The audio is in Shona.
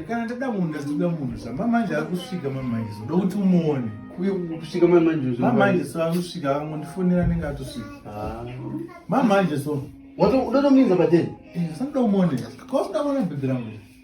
kana ndada munhu ndazvitoda munhu zva mamanje akusvika mamanje zoda kuti umuone kusvika mamanje mamanje so akusvika akangondifonera anenge atosvika ah. mamanje so watoda tomuinza pateni eh, sandida umuone kausuda kuona bhedhi rangu